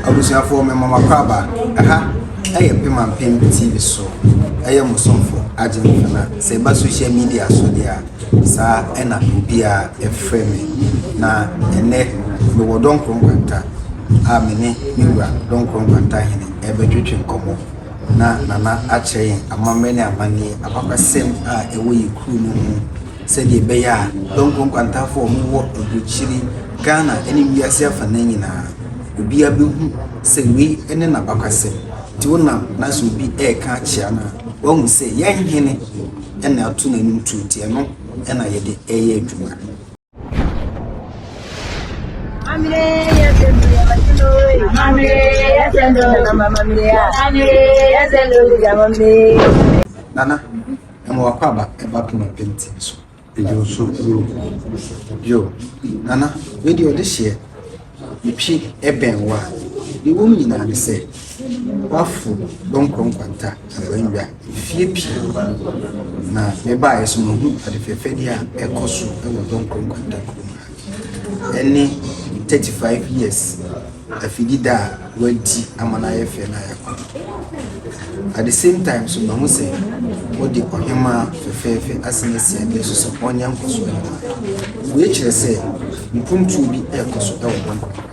Abusuafoɔ me mɔmakɔ aba ɛha ɛyɛ pema mpem tv so ɛyɛ mo somfo agyeman nana sɛ ɛba social media so deɛ saa ɛna obia ɛfrɛ me na ɛnɛ me wɔ dɔnkoro nkwanta a me ne me wura dɔnkoro nkwanta hene ɛbɛtwetwe nkɔmɔ na nana akyerɛ yɛn amammerɛ ne amanneɛ abakwasɛm a ɛwɔ yɛ kuro mu ho sɛdeɛ ɛbɛyɛ a Donkor nkwantafoɔ a wɔwɔ aburokyire, Ghana ne wiase afanan nyinaa obiara bɛhu sɛ wei ne n'abakwasɛm, nti wonam na sɛ obi reka akyea no a wahu sɛ yɛn hene na ato n'anim tuo nti ɛno na yɛde reyɛ adwuma. Amire yesendo yabakino we. Amire yesendo. Nana mamire ya. Amire yesendo yamamire. Nana Ɛma w'akwaaba ba poma pintinn so. Ɛdi wo so yoo, yoo. Nana, wei deɛ ɔde hyeɛ. Metwi bɛn wo a, deɛ ɛwɔ mu nyinaa ne sɛ, woafo dɔnkɔ nkwanta anaa nnwa mfeɛ pii. Na mebaeɛ nso, mahu adefɛɛfɛdeɛ a ɛkɔ so wɔ dɔnkɔ nkwanta kurom ha. ɛne thirty five years afidida a wadi ama no ayɛ fɛ no ayɛ koro at the same time nso mahu sɛ wɔde ɔhemaa fɛfɛɛfɛ asen asi adeɛ so sɛ ɔnyɛ nkɔsoɔ no wei kyerɛ sɛ mpuntuo bi ɛrekɔ so ɛwɔ hɔ.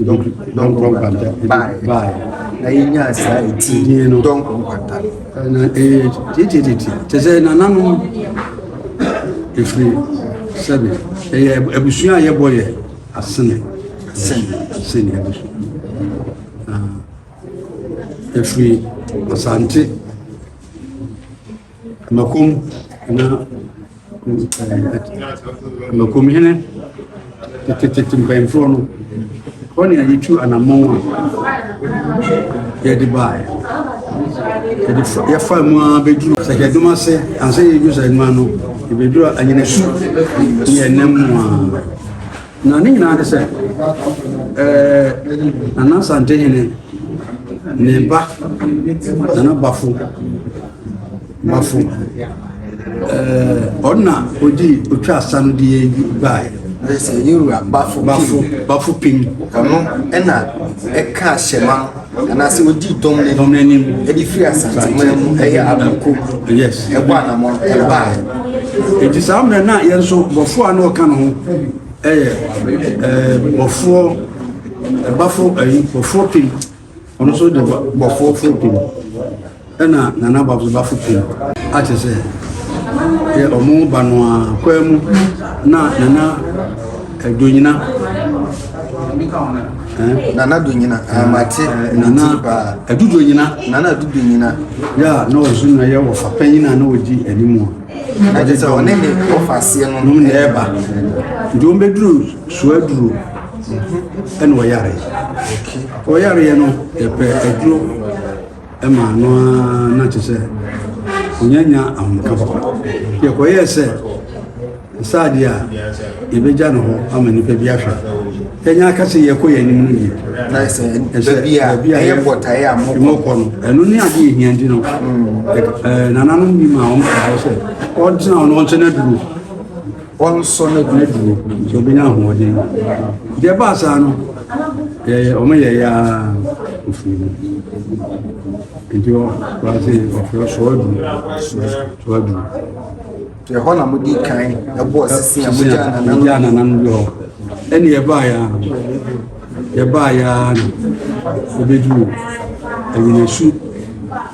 Dɔnkɔ Nkwanta baeɛ na yɛnyaa saa ɛti Dɔnkɔ Nkwanta na ɛyɛ titititi te sɛ nananom ɛfiri sɛbe ɛyɛ abusua a yɛbɔ yɛ asene asene abusua ɛfiri asante Makom na makom hene tetetete mpanyinfoɔ no hɔ ne yɛde tu anammɔn a yɛde baeɛ yɛde fa yɛfa mu ara bɛduru sɛkyɛdom ase ansa yɛduru sɛkyɛdom ano yɛbɛduru anyinasu ne yɛn nan mu ara. Na ne nyinaa ne sɛ, ɛɛ Nana Asante hene ne ba Nana Bafo Bafo ɛɛ ɔna odi otwa asa no di eyi baae. Ɛsɛ Yorùbá Bafo Bafo Bafo Pim. Ɔno ɛna ɛka ahyɛma no. anaasɛ ɔdii dɔm no anim de firi asanteman mu ɛyɛ abrako ɛbɔ anamɔ ɛbaa nti saa mmerɛ na yɛn nso bɔfoɔ a na ɔka no ho ɛyɛ bɔfoɔ ɛbafo ayi bɔfoɔ pem ɔno nso de bɔfoɔ fo pem Ɛna Nana Babzobafo pii akyɛ sɛ yɛ ɔmo ba no a kwaa mu na Nana Donyina eh? Nana Donyina, ah, mate eh, ne ti paa. Adu Donyina. Nana Adu Donyina. Yɛ a na ɔso na yɛ wɔfa panyin a na ɔdi anim a. Na kyerɛ sɛ ɔne ne wɔfa aseɛ no. Nom na ɛba. Nti wɔn bɛduru suaduro ɛna ɔyare. Ɔyareɛ no yɛpɛ aduro. Ɛma no ara na kyerɛ sɛ onya nya ahomeka papa. Yɛkɔyɛɛ sɛ nsa adeɛ a yɛbɛgya no hɔ ama nnipa bi ahwɛ. Yɛnya aka sɛ yɛkɔ yɛn anim no yie. Baabi a ɛyɛ bɔtaeɛ a mokɔ no, ɛno ne adeɛ yɛhia nti no. Mm. Nananom bi ma wɔn kɔ hɔ sɛ ɔntena hɔ no ɔnkyɛ no aduro. Wɔnsɔ no gyina bio sɛ ɔbɛnya ahoɔden. Nti ɛbaa saa no, yɛyɛ wɔn yɛyɛ ara ofiri mu. Nti wɔase ɔfrɛ sɔɔ du sɔɔ du. Nti ɛhɔ na modi kan ɛbɔɔ sisi a mogya ananam mogya ananam bi hɔ. Ɛne yɛbaa yɛ ara yɛbaa yɛ ara no ɛbɛduru ɛnyinasu.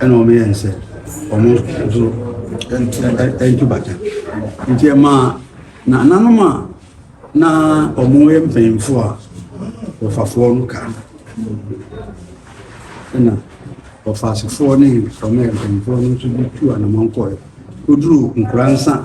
Ɛna wɔn yɛ nsɛ wɔn nso ntu bata nti ɛma nananom a na wɔn yɛ mpanyinfo a wɔfafoɔ no ka ɛna wɔfaasefoɔ ne wɔn yɛ mpanyinfoɔ no nso bi tu anamɔn kɔɛ koduru nkura nsa.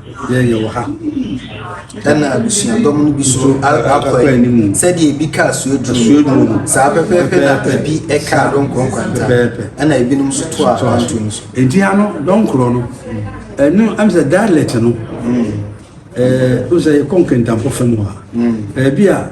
Yɛn yɛwɔ ha. Ɛna abusuadɔm no bi so akɔ anim. Sɛdeɛ ebi kaa suaduro mu. Saa pɛpɛɛpɛ na ebi kaa dɔnkorɔ nkwanta. Ɛna ebinom nso to a anto no so. Eti ano dɔnkorɔ no. Ɛno ɛm sɛ dialect no. Ɛɛ o sɛ yɛkɔ nkentampo fam hɔ a. Ɛbi a.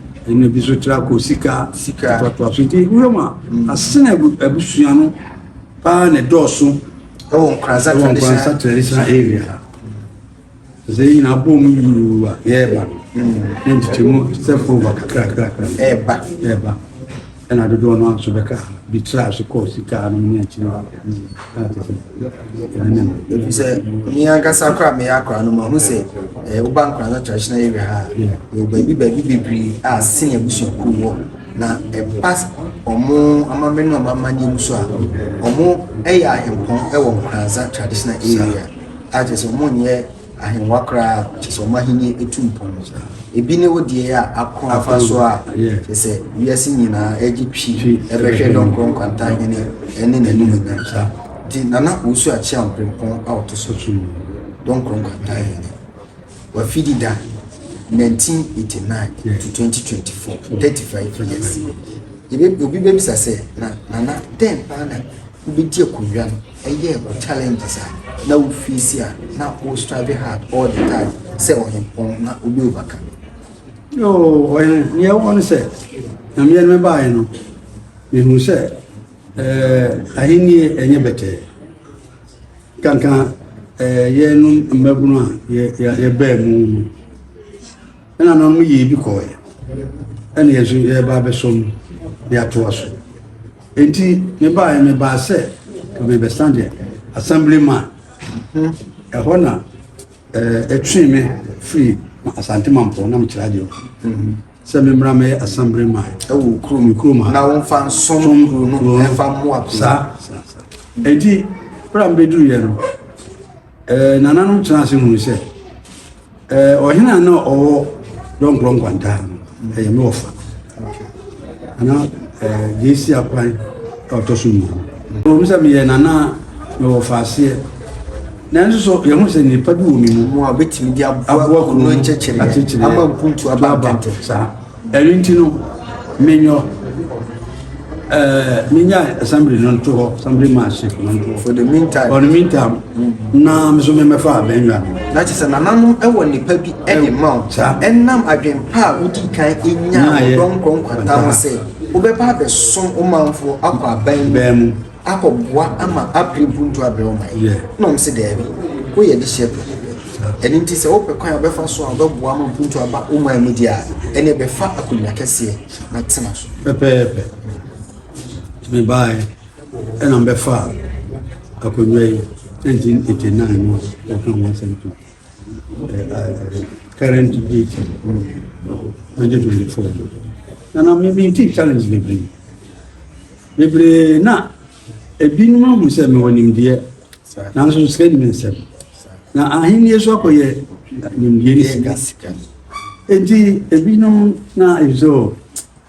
Ɛna bi so tra kɔ sika sika toatoa so nti wura mu a asena abusua no paa na dɔɔso ɛwɔ nkransa traditional nkransa traditional area sɛ yɛ nyinaa bɔ mu yuu a yɛɛba no ne nkyekye mu step over kakra kakra ɛɛba ɛɛba Ɛna dodoɔ no ara nso bɛka bi traa so kɔɔ sika anom ne akyiri hɔ a ɛte sɛ ɛne no. Ɛfiri sɛ me ankasa koraa meyɛ akora no mahu sɛ eh, woba nkora no traditional area ha yɛwɔ baabi baabi bebree a sene abusuakuo wɔ na ɛba ɔmo amammerɛ ne ɔmo amanneɛ mu so a ɔmo ɛyɛ ahempɔn ɛwɔ nkoransa traditional area a kyerɛ sɛ ɔmo nyɛ Ahengua koraa, kyerɛ sɛ wɔn ahenni tu mpɔn. Ebi ne wo deɛ a ako afa so a kyerɛ sɛ wiase nyinaa agye twi ɛbɛhwɛ Dɔnkoro Nkwantahene ne n'animuonyam saa. Nti Nana Owusu Acheaw Mprempɔn a ɔto so Dɔnkoro Nkwantahene, wafi di da 1989 to 2024, 35 years. Yɛbɛ, obi bɛbisa sɛ, na Nana, dɛn paa na wobɛdi akonnwa no? Ɛyɛ wo challenges a na wo face a na wo strive hard all the time sɛ ɔhempɔn na obi overcome. Yoo, ɔyɛ nea ɛwɔ no sɛ nyameɛ no mɛbaeɛ no mehu sɛ eh, ahennie ɛnyɛ bɛtɛɛ kanka eh, yɛnom mmabunu a yɛbaa mu no Ɛna no no yɛ bi kɔɔɛ ɛna yɛ nso yɛba abɛsom de atoa so nti mebaeɛ mebaa sɛ mebɛsan deɛ assembly man ɛhɔ na ɛtwee me firi asante mampɔ na mekyerɛ adeɛ sɛ memmra mɛyɛ assembly man ɛwɔ kuro me kurom ha na womfa nsom kuro no ɛmfa mmoa kuro saa saa saa ɛnti berɛ a mebɛduruiɛ no Nananom tenaa ase hunu sɛ ɔhene a na ɔwɔ dɔnkorɔ nkwantaa no ɛyɛ me wɔfa ana deɛ ɛsi akwan a ɔtɔ so mmienu ɔmu sɛ meyɛ nana me wɔfa aseɛ nanso so yɛho sɛ nnipa bi wɔ me mu a bɛtumi de aboa kunu no nkyɛkyerɛ ama mpuntu aba ntɛntɛ saa Ɛno nti no, menyɔ ɛɛ menyae assembly no nto hɔ assembly manship no nto hɔ for the meantime for the meantime na me so memɛfa abɛnwa no na kyerɛ sɛ nananom ɛwɔ nnipa bi ɛde ma wo ɛnam adwempa a wodi kan ɛnya ɔdɔm nkɔnkwata ho sɛ wobɛba abɛsom wo manfoɔ akɔ aban mu akɔ boa ama abere buntu abrɛ ɔman yi na wɔn se daabi woyɛ adehyeɛ pɛ ɛno nti sɛ wopɛ kwan a wobɛfa so a wobɛboa ama buntu aba ɔman mu deɛ a ɛne ɛbɛfa akonnwa kɛseɛ na tena so pɛpɛɛpɛ mebaeɛ ɛna mbɛfa akonnwa yi ɛnti ɛti nan no wɔka ho asɛm to current date 2024 na na memeetii challenge bebree Bebree na ebinom ahu sɛ mewɔ nimdeɛ, nanso sika nni me nsam. Na ahenni so akɔyɛ nimdeɛ ne sika. Enti ebinom na ɛsɛ o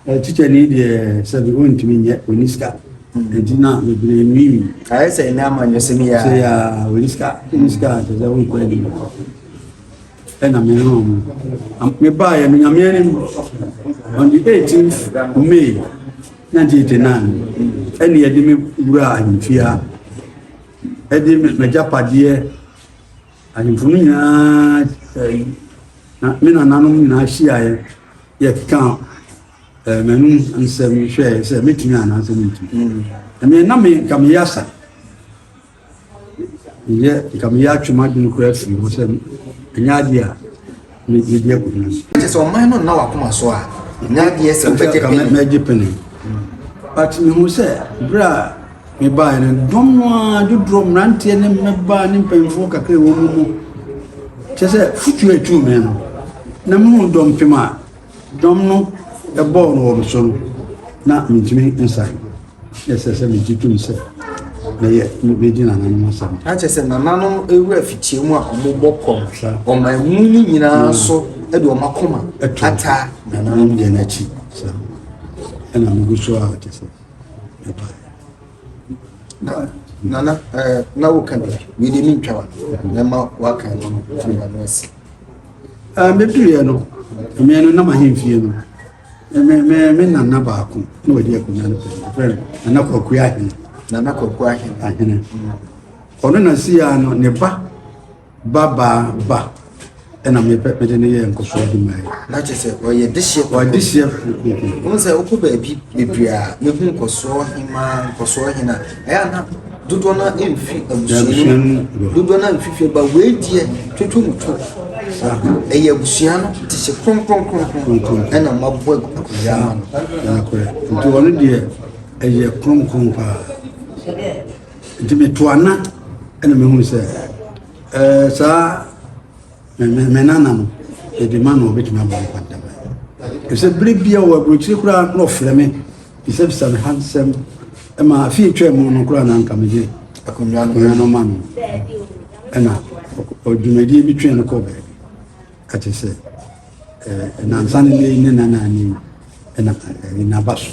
eh, tikya ni deɛ sɛ bi ɔntumi nyɛ ɔni sika. Enti na bebree nwiinwi. Ayɛ sɛ ɛnɛ amanyɔsɛm yi a. Sɛ yɛ a ɔni sika, ɔni sika kyerɛ sɛ ɔnkɔ anim. ɛna me ne wɔn mebaeɛ no nyame anim on the 18th may 1989 ɛne yɛde me wura ahemfie a ɛde m'agyapadeɛ ahemfo no nyinaa me nananom nyinaa hyiaeɛ yɛkeka m'anom nsɛm hwɛɛ sɛ mɛtumi anaasɛ mentumi ɛmeɛ na me nka meyɛ asa Meyɛ nka meyɛ atwe m'adwene koraa afiri hɔ sɛ ɛnyɛ adeɛ a mede akɔgyina so. Kyerɛ sɛ ɔman no nna w'akoma so a ɛnyɛ adeɛ sɛ wobɛgye pene. Mɛgye pene. But mehu sɛ berɛ a mebaeɛ no dɔm no ara dodoɔ mmeranteɛ ne mmabaa ne mpanyinfoɔ kakra ɛwɔ mu mu kyerɛ sɛ futuo a ɛtuu me no na mehu dɔm pem a Dɔm no bɔɔ no wɔ me so no, na mentumi nsan. Na ɛsɛ sɛ megye tom sɛ mɛyɛ medi nananom asɛm. Na kyerɛ sɛ nananom wura fitia mu a wɔbɔ kɔm ɔman mu no nyinaa so de wɔn akoma ata nananom deɛ no akyi. Saa ɛna megu so a kyɛ sɛ ɛba. Nana, na woka bi, mede mentwa wa, na ma waka no firi ma no asi. Meduruiɛ no, mmea no nam ahemfie no. Me me me nana baako na ɔdi akonnwa no pɛn. Ɔfrɛ no Nana Kwaku Ahene. Nana Kwaku Ahene. Ahene. Ɔno na si ya no ne ba ba ba ba ɛna mepɛ mede ne yɛ nkɔso adwuma yi. Na kyerɛ sɛ ɔyɛ dehyeɛ. Ɔyɛ dehyeɛ. Wɔn sɛ wokɔ baabi bebree a mehu nkɔsoɔ hemaa nkɔsoɔ hena ɛyɛ ana Dodoɔ no ara mfi abusua no mu, dodoɔ no ara mfi fie ba wei deɛ twotwo mu two, ɛyɛ abusua no te sɛ kronkron kronkron ɛna mabɔ akonnwa ama no. Nti ɔno deɛ ɛyɛ kronkron paa nti meto ana ɛna mehunu sɛ ɛɛ saa. Me me nana no yɛde ma na ɔbɛtumi ama no kwanta ma ɛfisɛ bere bia wɔ aburokyire koraa na ɔfrɛ me bisabisa me ha nsɛm ɛma afei twa mu no koraa na nka megye akonnwa no ma no ɛna ɔdwumadie bi twɛn no kɔ baabi ɛte sɛ nansa ne ne nana ne na ɛne n'aba so.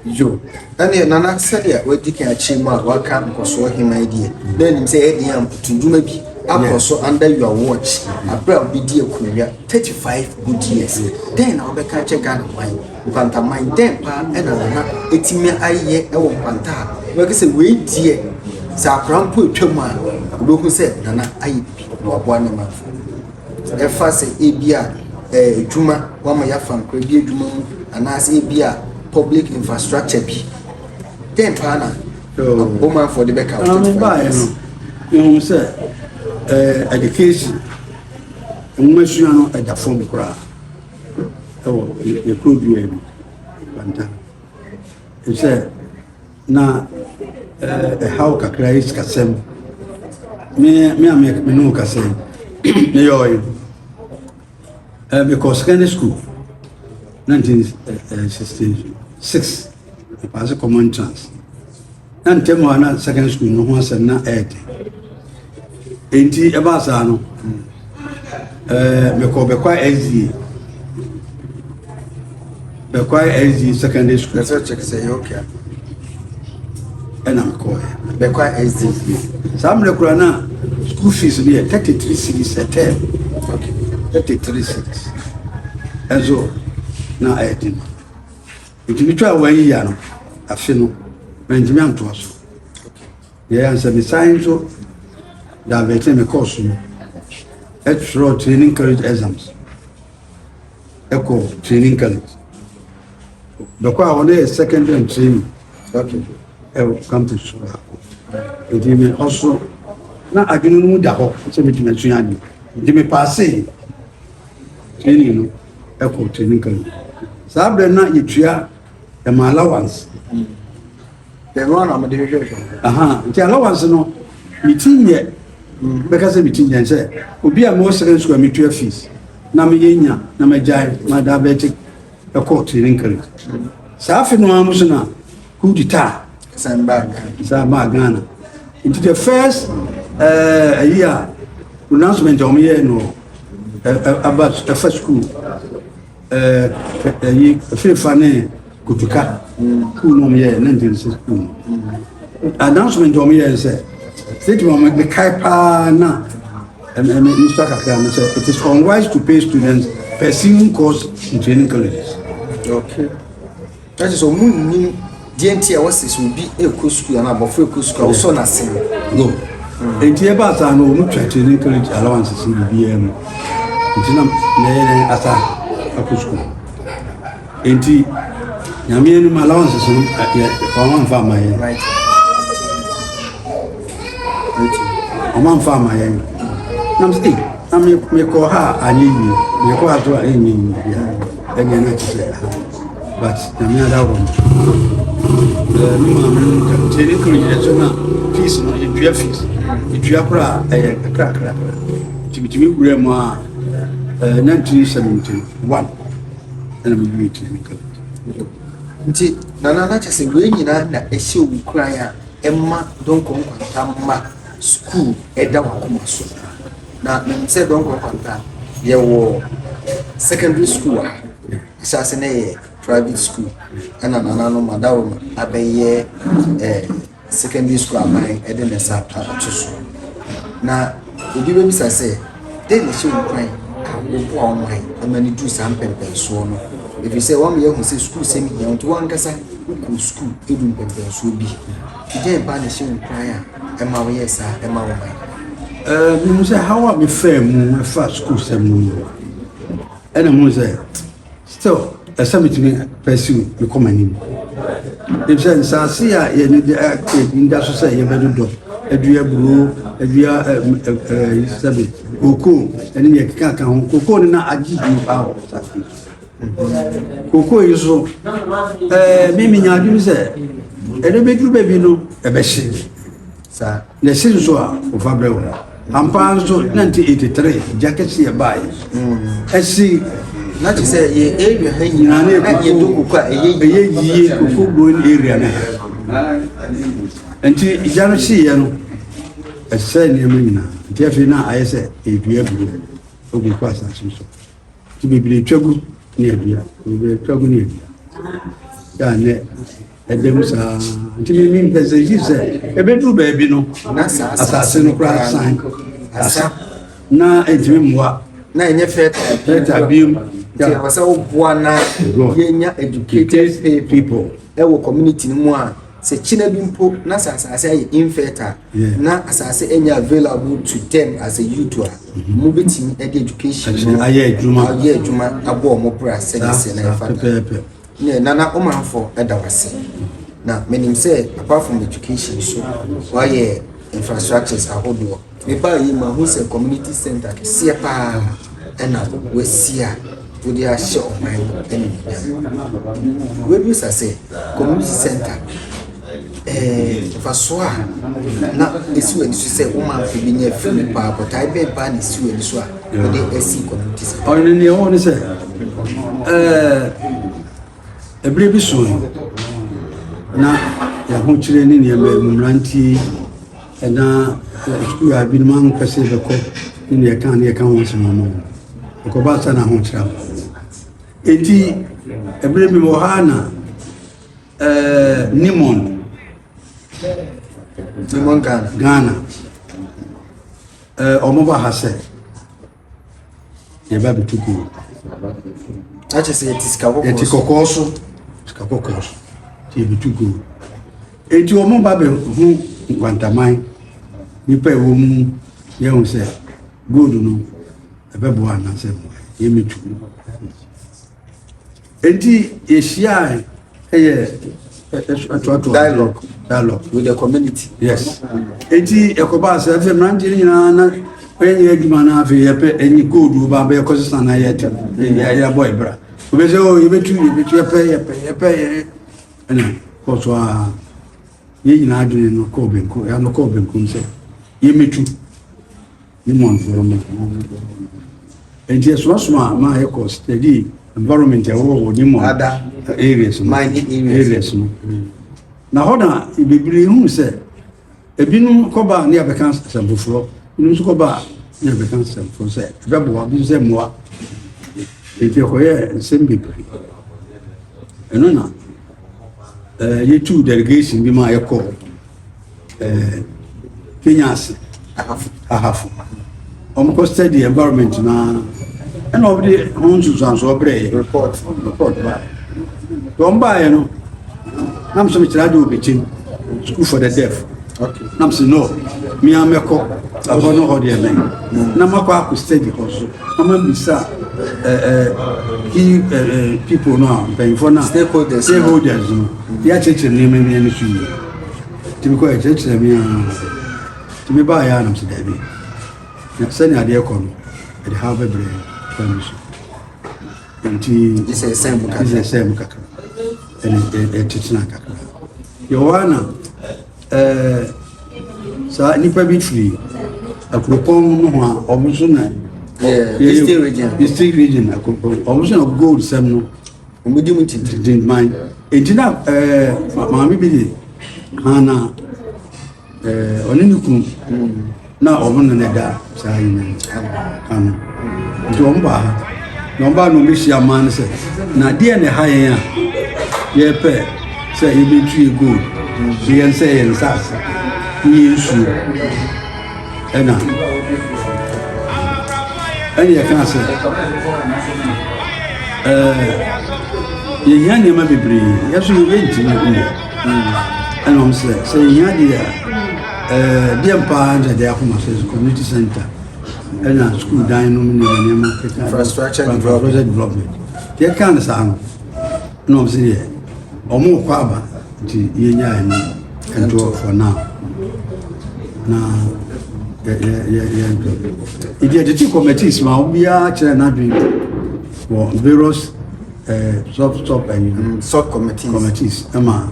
Yo, ɛneɛ Nana sɛdeɛ wadi kan akyerɛ mu a waka nkɔsoɔ hema yi deɛ, na ɛnim sɛ ɛyɛ den ampo to dwuma bi akɔ so under your watch, aberɛ a wobɛdi akonnwa 35 good years. Dɛn na wobɛka akyɛ Ghana man, nkwantaman, dɛn paa ɛna Nana ɛtumi ayɛ ɛwɔ nkwanta a wobɛka sɛ wei deɛ sɛ akora mpo ɛtwa mu a, wobɛhu sɛ Nana ayɛ bi na waboa ne manfoɔ. Ɛfa sɛ ebia ɛɛ adwuma, wɔama yɛafa nkora bi adwuma mu, anaasɛ ebia public infrastructure bi. Dɛn paa na Omanfoɔ de bɛka wo twenty five years? Yɛhu sɛ ɛɛ education, nwoma sua no ɛda fam koraa ɛwɔ yɛ kuro dua yi mu, Bantan. Sɛ Na ɛhaw kakra yi sikasɛm. Me me a me me ne wo kasa yi, meyɛ ɔyɛ. Mekɔ secondary school, 1966, mepaase common trans. Na ntɛm a na secondary school no ho asɛm na ɛyɛ den. Enti ɛbaa saa no, mekɔɔ Bɛkwae SDA Bɛkwae SDA secondary school. Ɛsɛ kyɛk sɛ ɛyɛ okay a. Ɛna mekɔɔɛ. Bɛkwae SDA. Saa mmerɛ koraa na school fees no yɛ 33 cedis a term. 33 cedis. Ɛnso na ɛyɛ den. Enti metwaa wɔn ayi ya no, afe no, mantumi antoa so. Yɛɛ ara ne sɛ mesan nso divertee me course no twerɛɛ training college exams kɔɔ training college. Bɛkɔ a wɔne yɛ secondary and training ɛwɔ campus so baako. Nti me ɔso na adwene no mu da hɔ sɛ metumi asua adeɛ. Nti mepaasee training no ɛkɔɔ training college. Saa berɛ na yɛtua Ɛma allowance. Ɛno ara na mede hwehwɛhwɛ. Aha, nti allowance no, me ti nyɛ. Mm-hmm. Bɛka sɛ me ti nyɛ sɛ obi a mewɔ second school a metua fees na meyɛ nya na magyae ma diabetic ɛkɔ tiri nkari. Mm-hmm. Saa afe no ara mu so na coup d'etat. San baa Ghana. San baa Ghana. Nti the first ɛɛ ayi a pronouncement a wɔn yɛ no ɛfa sukuu. ɛɛ ɛyi fefa ne kutuka kuu nom yɛ ne ntɛm sɛ kuu no announcement wɔn yɛ sɛ sɛtuma wɔn mekae paa na ɛmɛ nsa kakra no sɛ it is unwise to pay students pursuing course in training colleges. Okay. Na kyerɛ sɛ ɔmo nnim deɛ nti a wɔsɛ sɛ obi ɛkɔ sukuu anaa abɔfra ɛkɔ sukuu a wosɔ n'ase no. Go. Nti ɛbaa saa no ɔmo twa kyerɛ ne college allowances ne biribiara mu. Nti na mɛyɛ dɛn asa akɔ sukuu. Nti nyame anim allowances no yɛ ɔmo amfa ama yɛn. Ɔmo amfa ama yɛn. Nam sɛ na mekɔ ha a anyɛ yie, mekɔ ha so a ɛnyɛ yie biara. Ɛnyɛ na ɛte sɛ ha but nyame ada wɔ no me maame no nka nti ne kuro yɛ so na fees no yɛtua fees yɛtua kora a ɛyɛ kakrakra nti metumi wura mu a na ntiri sɛ menti no one ɛna mewie tiri me kala nti nana na kyɛ sɛ wei nyinaa na ɛhyɛ owu koran a ɛma donkɔ nkwanta ma sukuu ɛda wakoma so Na menim sɛ Donkor Kwanta yɛwɔ secondary school wɔ ha. Ahyɛase no yɛ private school ɛna nana no madaworo no abɛyɛ eh, secondary school aban ɛde ne nsa ato so. Na obi bɛbisa sɛ dɛn na ɛhyɛ nkwan a woboa wɔn ayɛ ɛma no duru saa mpɛmpɛnsoɔ no ɛfiri sɛ wɔn yɛ ho sɛ sukuu sɛm hia nti wɔn ankasa wokɔ sukuu ɛdu mpɛmpɛnsoɔ bi Gyai ba na hyɛ nkuran a ɛma woyɛɛ saa ɛma wo man? Menim sɛ haw a mefaa mu ɛfa sukuusɛm no mu no, ɛna mu sɛ still ɛsɛ metumi pursue mekɔ m'anim. Ɛfiri sɛ nsaase a yɛne de ɛda so sɛ yɛbɛdodɔ adua aburo, adua sɛbe kokoo ɛne deɛ ɛkeka ka ho. Kokoo no na agye bio paa wɔ saase yi so. Kokoa yi so ɛɛ mi mi nya adwuma sɛ ɛdɛ bɛ duru baabi no ɛbɛ hye saa na ɛhye nso a ɔfa brɛ wɔn ampa nso nineteen eighty three gya kɛse yɛ baa yi ɛsi. na te sɛ yɛ area ha nyinaa ne ɛyɛ do koko a ɛyɛ yie ɛyɛ yie koko growing area ne ha nti gya no hye yɛ no ɛsɛ nneɛma nyinaa nti afei na ayɛ sɛ ɛdua duro ɛgu kɔ asase so. nti bebree twa gu ne adua bebree twa gu ne adua yɛ a nɛ ɛda mu saa nti mi mi mpɛ sɛ yi sɛ ebeduru baabi no asase no koraa san asa na ntumi mmoa na ɛnyɛ fɛta fɛta biem. Nti ɛwɔ sɛ woboa na yɛnya educated people. wɔ community no mu a sɛ kyena bi mpo na sɛ asase ayɛ infertile yeah. na asase ɛnyɛ available to them as a youth a mo bɛtumi ɛde education no ayɛ adwuma ayɛ adwuma abɔ ɔmo bra sɛdeɛ sɛ na ɛfa da ne nana ɔmanfoɔ ɛda wase na menim sɛ apart from education so wayɛ infrastructures ahodoɔ Mebaa yei mahu sɛ community center kɛseɛ paa ɛna wasi a wode ahyɛ ɔman no animuonyam. Wabisa sɛ community center eh, mfasoɔ a na ɛsi w'ani so sɛ wo manfo bi nya afiri mu paa botae bɛn paa na ɛsi w'ani so a wode asi community center. Ɔno ne deɛ wɔn ne sɛ ɛɛ. Ɛberɛ bi so no, na ahokyerɛ ne nneɛma mu mmeranteɛ na sukuu a binom ampɛ sɛ bɛkɔ ne nea ɛka ne ɛka ho asɛm ama wɔn. Ɛkɔba sa na ahokyerɛ aba. Enti ɛberɛ bi wɔ ha na ɛɛ Nimon Nimon Ghana Ghana ɛɛ wɔn ba ha sɛ yɛba abɛtu kuu no akyɛ sɛ yɛte sika kɔkɔɔ yɛte kɔkɔɔ so sika kɔkɔɔ so nti yɛbɛtu kuu no enti wɔn ba bɛhu nkwantaman nipa ɛwɔ mu yɛhu sɛ gold no ɛbɛboa anaasɛ yɛmɛtu Enti yɛhyiae yɛ ɛtoatoa dialogue dialogue with the community. Yes. Enti ɛkɔbaa sɛ afei mmeranteɛ no nyinaa na ɛnyɛ adwuma no afei yɛpɛ ɛnyi koodu ba bɛyɛ kɔ sesa na yɛtɛ yɛabɔ ɛbra wobɛ sɛ o yɛbɛtu yɛbɛtu yɛpɛ yɛpɛ yɛpɛ yɛ ɛna kɔ so a yɛn nyinaa adwene no kɔɔ benkum ɛno kɔɔ benkum sɛ yɛmɛtu ne mo environment anaa mo bɔ hɔ no. Nti ɛsoaso a maa yɛ kɔ steady environment ɛwɔ wɔ ne mo ada areas no areas no na hɔ na bebree hu sɛ ebinom kɔba ne abɛka asɛm foforɔ ebinom nso kɔba ne abɛka asɛm foforɔ sɛ ɛbɛboa bi sɛ mmoa nti ɛkɔyɛ nsɛm bebree ɛno na ɛɛ yɛtu delegation bi ma yɛkɔ. eh, Kenya ase ahafo ahafo ɔmokɔ study environment no ara ɛna ɔmde ho nsusuansoɔ berɛɛ report report baɛ nti ɔm baeɛ no na mesɛ mekyerɛ ade wɔbɛkyɛm school for the deaf na mesɛ no mea mɛkɔ ɛhɔ no hɔ deɛ mɛ na makɔ akɔ study hɔ so na mabisa key people no a mpanyimfoɔ no a stakeholders no yɛakyerɛkyerɛ nneɛma nneɛma so yie Nti mekɔɛ, ɛkyerɛkyerɛ me aa. Nti mebaeɛ a na mese daabi. Na sɛnea adeɛ kɔ no, ɛde haw bɛbrɛ kwan bi so. Nti ɛsɛ ɛsɛ mu kakra. Ɛsɛ ɛsɛ mu kakra. Ɛne ɛtetena kakra. Yɛwɔ a na ɛɛ saa nipa bi firi akuropɔn no ho a wɔn nso na. Eastern region. Eastern region akuropɔn wɔn nso na gold sɛm no. Wɔdi mu titiritin man. Enti na ɛɛ maame bi de hana ɛɛ ɔne ne kunu na wɔn na ne da saa yi ano. Nti wɔn baa ha na wɔn baa na wɔn bɛhyia man no sɛ na adeɛ na ɛha yɛn a yɛpɛ sɛ yɛbɛtu yɛ gold yɛn sɛ yɛn nsaase ne yɛn nsuo. Ɛna ɛne yɛkaa sɛ ɛɛ yɛhia nneɛma bebree yɛso yɛntumi nyɛ ɛna ɔm sɛ sɛ yɛhia deɛ a ɛɛ deɛ mpaa nkyɛ deɛ akoma sɛ community center ɛna sukuu dan no mu nneɛma nneɛma keka infrastructure development yɛkaa no saa no ɛna ɔmo sɛ deɛ ɔmo kɔ aba nti yɛ nya ɛno ɛnto for now na yɛ yɛ yɛ yɛ nto ebi ɛtete committees ma obiara kyerɛ n'adwene wɔ various ɛɛ eh, sub sub ɛyi eh, mm, sub committees committees ɛma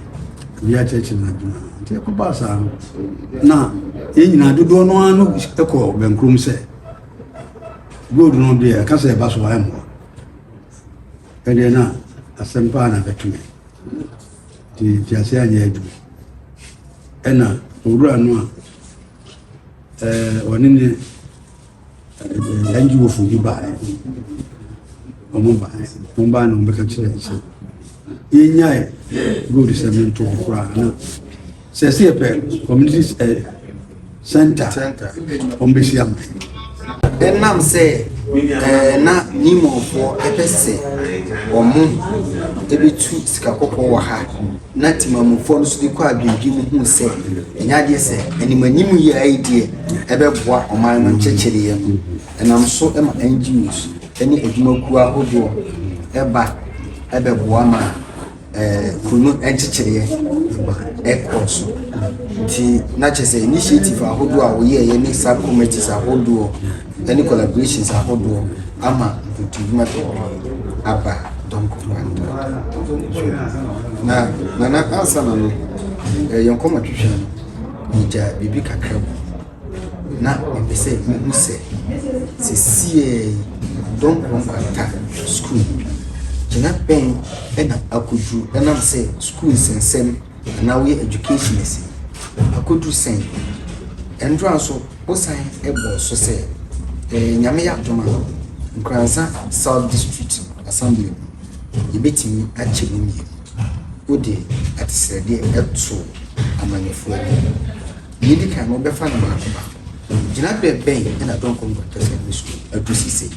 obiara kyerɛkyerɛ n'adwene nti ɛkɔ baa saa no na yɛn nyinaa dodoɔ no ano ɛkɔ bɛnkurom sɛ gold no deɛ ɛka sɛ ɛba so ayɛ mmoa Ɛndeɛ na asɛm paa na bɛto me nti nteaseɛ anyɛ adwuma ɛna owura no a ɔne ne NGOfo bi baeɛ wɔn baeɛ wɔn baeɛ na wɔn bɛka kyerɛ sɛ yɛnyae gold sɛm no nto hɔ koraa na Sɛsi ɛpɛ community eh, center wɔn bɛsi ama yi. Ɛnam sɛ eh, na Nimofoɔ ɛpɛ sɛ wɔn ɛbɛtu sika kɔkɔɔ wɔ ha na Timamufoɔ no so de kɔ adwendwen mu hu sɛ ɛnyɛ adeɛ sɛ animanim yɛ ayi deɛ ɛbɛboa ɔman no nkyɛkyɛdeɛ mu ɛnam so ma NGOs ɛne adwumakuo ahodoɔ ɛba ɛbɛboa ma kuro no nkyekyereɛ ma ɛkɔɔ so. Nti na kyerɛ sɛ initiative ahodoɔ a wɔyɛɛyɛ ne sub committees ahodoɔ ne collaborations ahodoɔ ama nkutodwuma bebree aba Dɔnko Kwanta. Na nana ansa na no yɛn nkɔmmɔtwetwe no yɛgya biribi kakra mu. na mepɛ sɛ muhu sɛ seesei dɔm koro nkwanta sukuu gyina bɛn na akodu ɛnam sɛ sukuu nsensɛm anaa woyɛ education asi akodu sɛn ɛndora nso wosan ɛbɔ so sɛ ɛɛ nyame yɛ adom a nkuransa south district assembly no yɛbɛtumi akyɛ mu mmienu wode atesrɛdeɛ ɛto amanyɔfoɔ anim. Nea edi kan no, wobɛfa no baako baako. Gyinaberɛ bɛn na Dɔnkɔ no Baptɛsma no so adu sisei,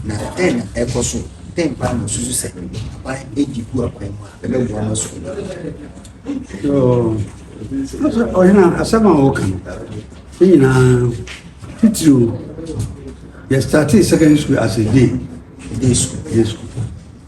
na dɛn na ɛrekɔ so? Dɛn paa na wosusu sɛ aban adi gu akwan mu a ɛbɛboa ma sukuu no atrɛw? Ɔhene a, asɛm a wɔka no, ne nyinaa titiriw, yɛstartee secondary school as a day day school.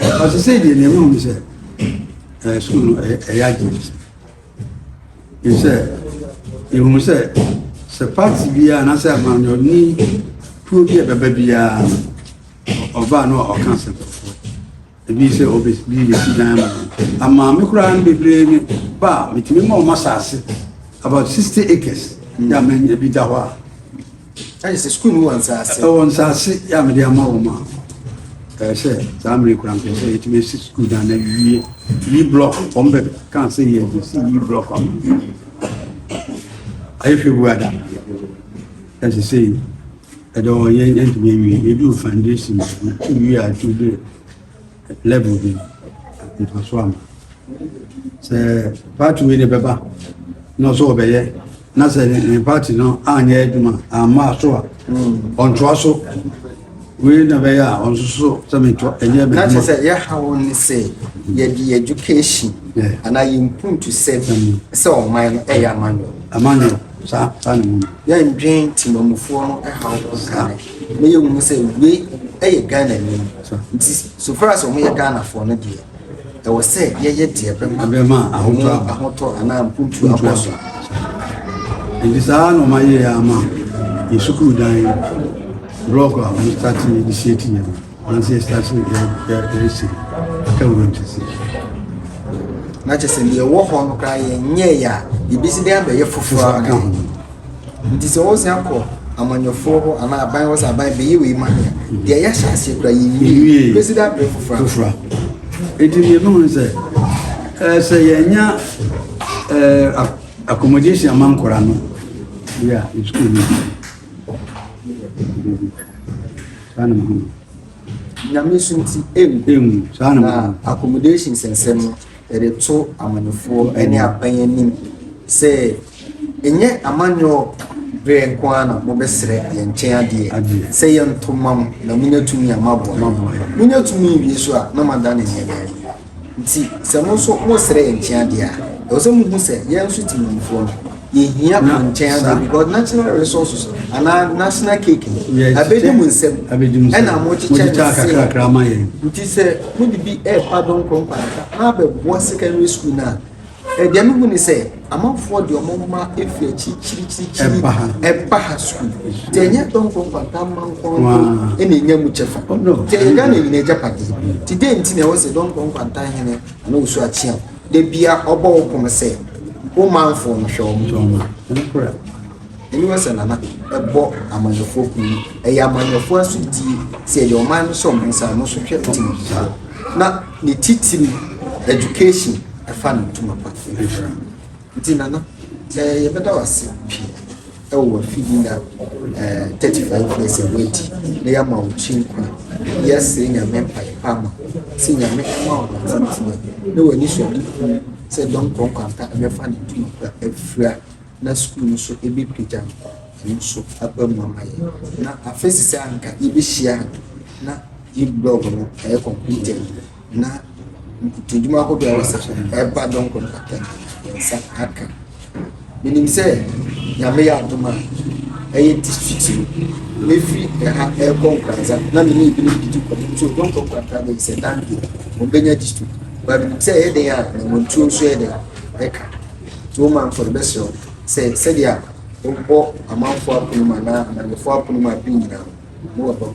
Ɔsɛ sɛ deɛ nea ɛwɔ mu sɛ ɛɛ sukuu no ɛyɛ ɛyɛ agye mu sɛ sɛ ehu sɛ sɛ paati biara anaasɛ amanyɔni kuo bi a ɛbɛba biara ɔbaa no a ɔka asɛm foforɔ ebi sɛ ɔbɛ bi bɛsi dan ma amaame koraa no bebree ne ba a metumi ma ɔma saase about sixty acres yɛ amanya bi da hɔ a. Agye sɛ sukuu no wɔ nsaase. Ɛwɔ nsaase yɛ a mede ama wɔn a ɛyɛ sɛ saa mmiri kura mpɛ sɛ yɛtumi si sukuu dan na yiwie yi blɔk wɔn bɛ ka sɛ yɛ de si yi blɔk ama ayɛ hwɛ bu ada ɛsɛ sɛ yi ɛdɛ wɔn yɛn yɛntumi awie yɛdu foundation yiwie a ɛtumi de. Level bi no mfaso ama sɛ party wei na ɛbɛba na ɔsɛ ɔbɛyɛ na sɛ ne party no anyɛ adwuma amma so a ɔntoa so wei na bɛyɛ a ɔnso so sɛ mentoa ɛnyɛ na kyerɛ sɛ yɛha wo ne sɛ yɛde education anaa yɛmpuntu sɛ sɛ ɔman no ɛyɛ amanyɔ amanyɔ saa saa ne mu yɛndwen timamufoɔ no ɛha wo na yɛhu sɛ wei yɛ Ghanani nti so far as wɔyɛ Ghanafoɔ no deɛ ɛwɔ sɛ yɛyɛ deɛ bɛma ahotɔ anaa mpuntu akɔ so nti saa na ɔma yɛyɛ ama yɛ sukuu dan blɔk a wɔn starte de sie ti yɛ no anansɛ yɛstarte yɛresi aka wura ntɛsi na kyɛ sɛ deɛ ɛwɔ hɔ no koraa yɛnyɛeɛ a yɛbɛsi dɛn abɛyɛ foforɔ aka ho Ntsi sɛ wosan kɔ amanyɔfoɔ hɔ anaa aban hɔ sɛ aban bɛyɛ wei ma yɛn a, deɛ yɛahyɛ aseɛ koraa yɛnwie bɛsi dɛ aberɛ foforɔ foforɔ Enti deɛ ɛbɛhu no sɛ ɛɛ sɛ yɛnya ɛɛ accommodation ama nkora no yɛ a sukuu no saa na mehu no nyame so nti ɛngu na accommodation sɛnsɛm no Yɛde to amanfoɔ ne aban anim sɛ ɛnyɛ amanyɔɔ berɛ nko ara na mobɛsrɛ yɛn nkyɛn adeɛ sɛ yɛnto mma mo na monya tumi a moaboa monya tumi wie so a na moada ne nneɛma yi nti sɛ mo nso mosrɛ yɛn nkyɛn adeɛ a ɛwɔ sɛ mohu sɛ yɛn nso Timanmufoɔ no Yɛhia wɔn nkyɛn adeɛ because national resources anaa national cake no abɛdi mu nsɛm ɛna mokyekyɛ kakrakra ma yɛn nti sɛ mode bi ɛɛfa donkoro nkwanka na abɛboa secondary school no a ɛdeɛ eh, mehu ne sɛ amanfoɔ deɛ ɔmo ma ɛfiri akyirikyirikyirikyiri ɛba ha school nti ɛnyɛ donkoro nkwanka ma nkɔnkɔ ɛna ɛnya mu kyɛfa nti ɛyɛ ghana nyina agya padeɛ nti dɛn nti na ɛwɔ sɛ donkoro nkwanka hene ana ɔsu akyeam Da bia ɔbɔ wo pon sɛ wo manfoɔ no hwɛ wɔn hwɛ wɔn a, wo nkura. Aniwa sɛ Nana bɔ amanyɔfoɔ kun no, ɛyɛ amanyɔfoɔ asodie sɛ yɛde ɔman no hyɛ wɔn nsa a, ɔno nso hwɛ tim no paa. Na ne titiri education ɛfa ne ntoma pa. Nti Nana, eh, yɛbɛda wo ase pii. wɔ w'afidi na eh thirty five years a w'adi na yama wo kyi nkwa yɛsrɛ nyame mpae pa ma sɛ nyame ma wo ntintina na w'ani so adi hu sɛ dɔm kɔnkwampa ɛbɛfa ne ntoma kura afira na sukuu no so ɛbɛpagya no ɛno nso aba mu ama yɛ na afesi sɛ anka yɛbɛhyia na yi blog no ɛyɛ completed na nkutodwuma ahodoɔ a ɛwɔ session no ɛba dɔn kɔnkɔtɛ yɛn nsa aka menim sɛ nyame yɛ adom a ɛyɛ district no mefiri ɛha ɛrekɔ nkransa na mene ebinom didi kɔmɔ nso dɔn kɔnkɔtɛ abɛyi sɛ dante wɔbɛnya district ba menim sɛ ɛyɛ dɛn a na wɔn tuo nso yɛ dɛn ɛka nti wɔn manfoɔ no bɛsrɛ wɔn sɛ sɛdeɛ a wɔbɔ amanfoɔ apono mu anaa amanfoɔ apono mu abiri nyinaa no wɔbɔ ho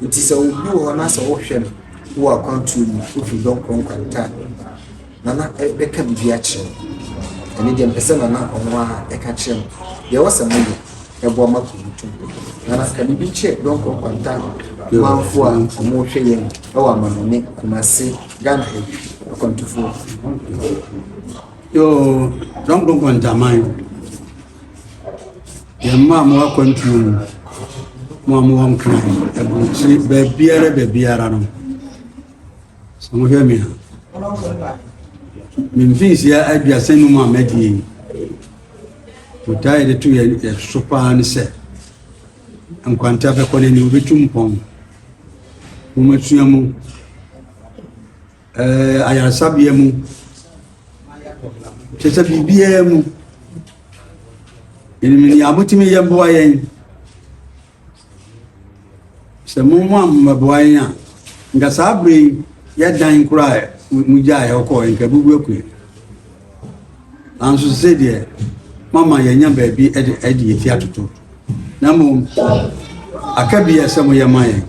Enti sɛ obi wɔ hɔ na sɛ wohwɛ no wɔ akwantuo mu, wofiri dɔm korɔ nkwanta a, Nana bɛka biribi akyerɛ wo. Ɛno deɛ mepɛ sɛ Nana ɔno ara ka kyerɛ me deɛ ɛwɔ sɛ moyɛ ɛboa ma kuro no tɔ. Nana, ka biribi kyerɛ dɔm korɔ nkwanta manfoɔ a wɔrehwɛ yɛn wɔ Amanɔne, Kumase, Ghana ha yi, akwantufoɔ. Yoo, dɔm korɔ nkwanta man. Yɛmma mo akwantuo mu, mo a mowɔ Nkran, aburokyire, baabiara baabiara no. Sɛ mohwɛ me a, memfinhyia aduasa num a madi yi. Botae yɛde to yɛ so paa ne sɛ, nkwanta bɛkɔ n'ani, wobɛtu mpɔn. Momasua mu. Eh, ayaresabea mu kyɛ sɛ biribiara mu yɛnim nea motumi yɛ mmoa yɛn sɛ momo ammɛboa yɛn a nka saa bere yi yɛdan koraa mu gyaa yɛkɔɔ nka bubu akue nanso sɛ deɛ mama yɛnya baabi adi yɛti atoto na mmom aka bi a ɛsɛ moyɛ ma yɛn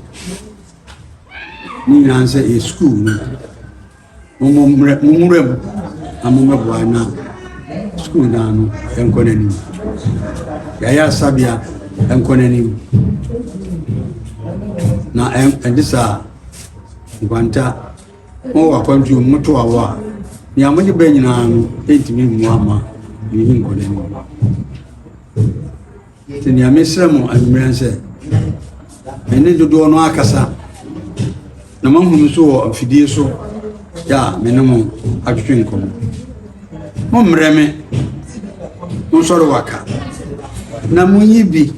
Ne nyinaa sɛ yɛ sukuu mu. Mo mmerɛ mo nwura mu na mo mmɛboa na sukuu naa no nkɔ n'anim. Yɛayɛ asabea nkɔ n'anim. Na ɛde saa nkwanta mo wɔ akwantuo mu moto awɔ a nea mode bɛ nyinaa no ɛntumi mmoa ma ne nkɔ n'anim. Nti nea mesrɛ mo anwummerɛ sɛ, me ne dodoɔ no akasa na mahunu so wɔ afidie so yɛ a me ne mo atwetwe nkɔmmɔ. Mommrɛ me, monsɔre waka na monyi bi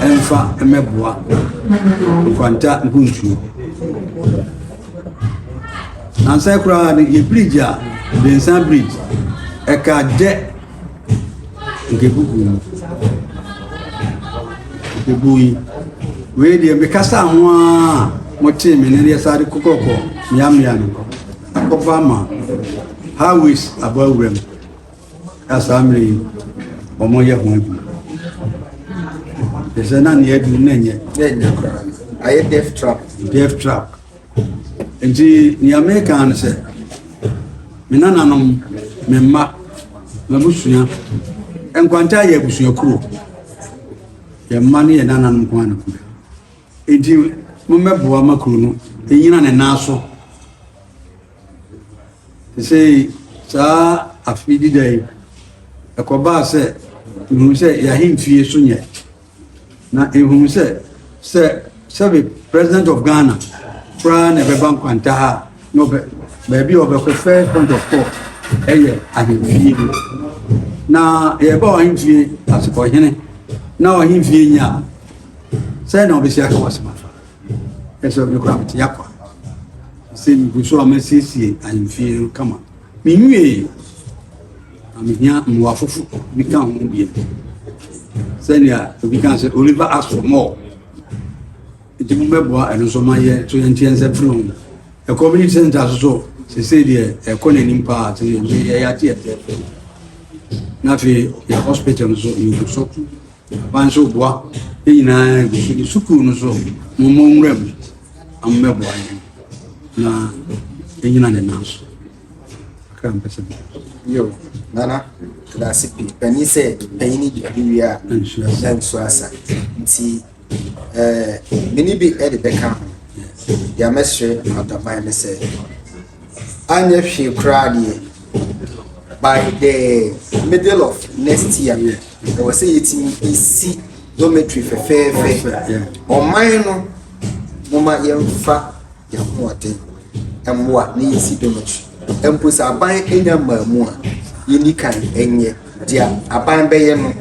mfa mmɛboa nkwanta nkuntuo. Nansa koraa no yɛ bridge a, Densa Bridge, ɛka dɛ Nkebubuo yi. Nkebuo yi. Wei deɛ mekasa ho a motee me ne deɛ saa de kokɔkɔ mmeammea no akɔba ma highways abɔ awura mu a saa mmerɛ yi wɔyɛ ho adwuma ɛsɛ na neɛ adu na ɛnyɛ ayɛ death trap death trap Nti nea meka ne sɛ, me nananom, me mma, m'abusua, nkwanta yɛ abusua kuro. Yɛn mma ne yɛn nananom nko ara na kuro. Nti mommɛboa ma kuro no ɛnyina ne nan so. Te sɛ saa afe dida yi, ɛkɔbaa sɛ mehu sɛ yɛahemfie so nyɛ. Na nhumu sɛ, sɛ sɛbe President of Ghana koraa na ɛbɛba nkwanta ha a, na ɔbɛ, baabi a ɔbɛkɔ first point of call ɛyɛ ahemfie mu. Na yɛba ɔhemfie ase ɔhene na ɔhemfie nyɛ a, sɛ na ɔbɛsi aka wasɛm afa. Ɛsɛ ɔbɛ kora mete yakwa. Sɛ megu so a masiesie ahemfie no kama. Menwie. Na mehia mmoa foforo bi ka ho bio. Sɛnea obi ka sɛ Oliver asked for more. Nti mo bɛboa ɛno nso ma yɛ nso yɛnteɛ nsa firi ho. Ɛkɔmini sɛnta so so sese deɛ ɛkɔ n'anim paa te yɛyɛ ate ɛfɛɛfɛ. Na afei yɛ hospital no so yɛgu so. Ban so boa ne nyinaa gu so. Ne sukuu no so mo mmɔ nwura mu. Ammɛboa yɛn na ɛnyina ne nan so. Nana, medase pii. Panyin sɛ panyin ni biribi wie a, ɛhyɛ nso asa. Nti, ɛɛ, eh, mene bi de bɛka ho. Deɛ mɛsrɛ adaman ne sɛ, anyɛ hwee koraa deɛ, by the middle of next year, ɛwɔ sɛ yɛtumi ɛsi dormitory fɛfɛɛfɛ. Ɔman no, moma yɛmfa yɛn ho ɔden. mmoa na yɛsi do no, mpo sɛ aban nnya mmaamu a, yenni kan nyɛ dea aban bɛyɛ no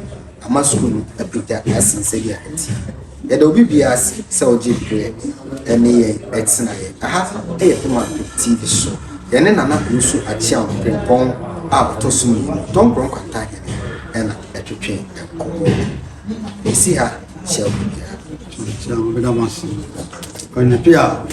ama sukuu no apagya asen sɛdeɛ ɛteɛ. Yɛda obi biara ase sɛ ɔgye berɛ ne yɛn tenaeɛ. Aha yɛ Poma TV so. Yɛne Nana Owusu Akyeaw Frimpong a ɔtɔ so mmienu, Dɔnkorɔ Nkwanta Hene na ɛtwetwe nkɔmmɔ. Yɛsi ha hyɛ obi biara. Meda mo ase. Anadwo a.